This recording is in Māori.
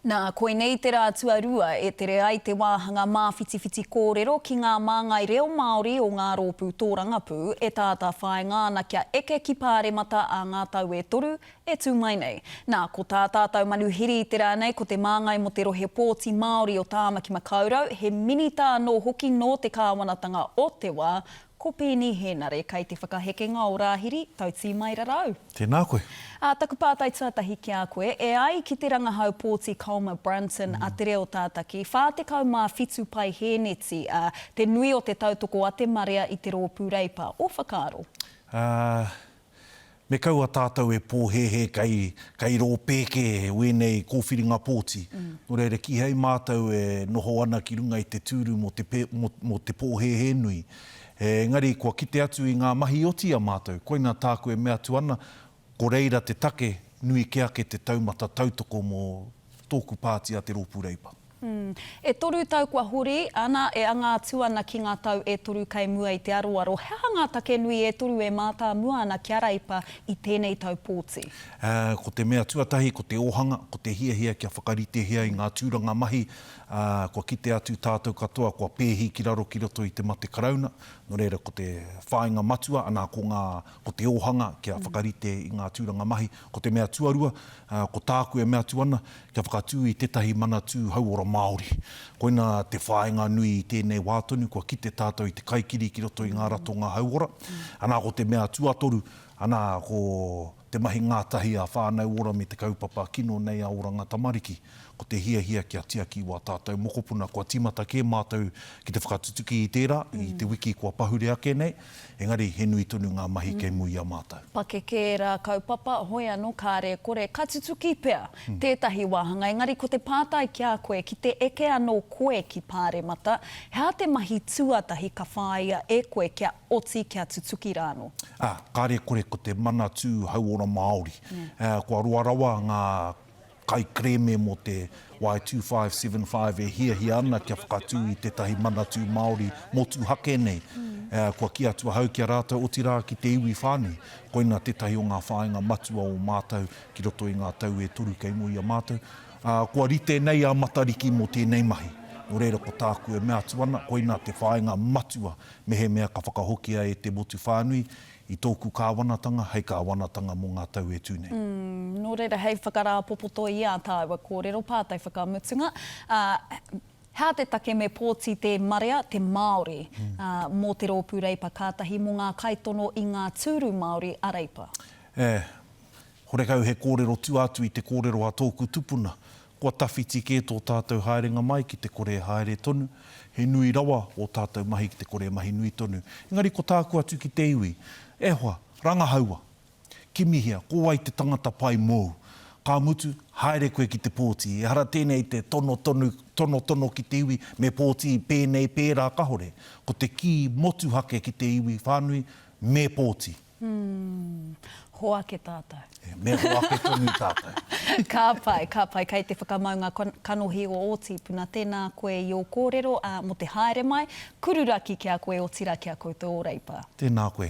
Nā, koinei te rā tuarua e tere ai te wāhanga māwhitiwhiti kōrero ki ngā māngai reo Māori o ngā rōpū tōrangapū e tātāwhāinga ana kia eke ki Pāremata ā ngā tau e toru e tū mai nei. Nā, ko tā tātou manuhiri i te rā nei ko te māngai mō te rohe pōti Māori o Tāmaki Makaurau, he minita anō hoki nō te kāwanatanga o Te Wā, Ko Peeni Hēnare kei te whakahekenga o Rāhiri, Tautīmairarau. Tēnā koe. Ā, taku pātai tuatahi ki a koe, e ai ki te rangahau pōti Colmer Brunton a Te Reo Tātaki, 47 pae hēneti, ā, te nui o te tautoko a te marea i te Rōpū Reipa, ō whakaaro? Ā, Me kaua tātou e pōhēhē kei, kei rō pēke wēnei kōwhiringa pōti. Nō reira, kīhai mātou e noho ana ki runga i te tūru mō te, mō, mō te pōhēhē nui. Engari, kua kite atu i ngā mahi oti a mātou. Koina tāku e mea atu ana, ko reira te take, nui ke ake te taumata tautoko mō tōku pāti a Te Rōpū Reipa. E toru tau kua hori, ana, e anga atu ana ki ngā tau e toru kei mua i te aroaro. He aha ngā take nui e toru e mātāmua ana ki a Reipa i tēnei tau pōti? Ko te mea tuatahi, ko te ōhanga, ko te hiahia kia whakaritehia i ngā tūranga mahi. Kua kite atu tātou katoa kua pēhi ki raro ki roto i te mate Karauna, nō reira ko te whāinga matua, anā, ko ngā, ko te ōhanga kia whakarite i ngā tūranga mahi. Ko te mea tuarua, ko tāku e mea atu ana, kia whakatū i tētahi Manatū Hauora Māori. Koina te whāinga nui i tēnei wā tonu, kua kite tātou i te kaikiri ki roto i ngā ratonga hauora. Anā, ko te mea tuatoru, anā, ko te mahi ngātahi a Whānau Ora me te kaupapa kino nei a Oranga Tamariki. Ko te hiahia kia tiaki wā tātou mokopuna kua tīmata kē mātou ki te whakatutuki i tērā i te wiki kua pahure ake nei, engari he nui tonu ngā mahi kei mua i a mātou. Pakeke ērā kaupapa, hoi anō kāre e kore, ka tutuki pea tētahi wāhanga, engari ko te pātai ki a koe, ki te eke anō koe ki Pāremata, he aha te mahi tuatahi ka whāia e koe kia oti, kia tutuki rānō? Ā, kāre e kore ko te Manatū Hauora Māori. Kua roa rawa ngā. Kaikerēme mō te Y2575 e hiahia ana kia whakatū i tētahi Manatū Māori motuhake nei, kua kī atu ahau ki a rātou, otirā ki te iwi whānui. Koina tētahi o ngā whāinga matua o mātou ki roto i ngā tau e toru kei mua i a mātou. Kua rite nei a Matariki mō tēnei mahi. Nō reira, ko tāku e mea atu ana, koina te whāinga matua mehemea ka whakahokia e te motu whānui, i tōku kāwanatanga hei kāwanatanga mō ngā tau e tū nei. Nō reira, hei whakarāpopoto i ā tāua kōrero pātai whakamutunga, hea te take me pōti te marea, te Māori, mō te rōpū Reipa kātahi mō ngā kaitono i ngā tūru Māori a Reipa? E, Horekau he kōrero tua atu i te kōrero a tōku tupuna, kua tawhiti kē tō tātou haerenga mai ki te kore e haere tonu, he nui rawa ō tātou mahi ki te kore e mahi nui tonu. Engari ko tāku atu ki te iwi, E hoa, rangahaua! Kimihia, ko wai te tangata pai mōu? Ka mutu, haere koe ki te pōti, ehara tēnei te tono tonu, tonotono ki te iwi, me pōti pēnei, pērā kahore. Ko te kī motuhake ki te iwi whānui, me pōti! Umm. Ho ake tātou. E, me ho ake tonu tātou. Ka pai, ka pai. Kei te whakamau ngā kanohi o ō tīpuna. Tēnā koe i ō kōrero, ā, mō te haere mai, kururaki ki a koe, otirā ki a koutou ō reipa. Tēnā koe.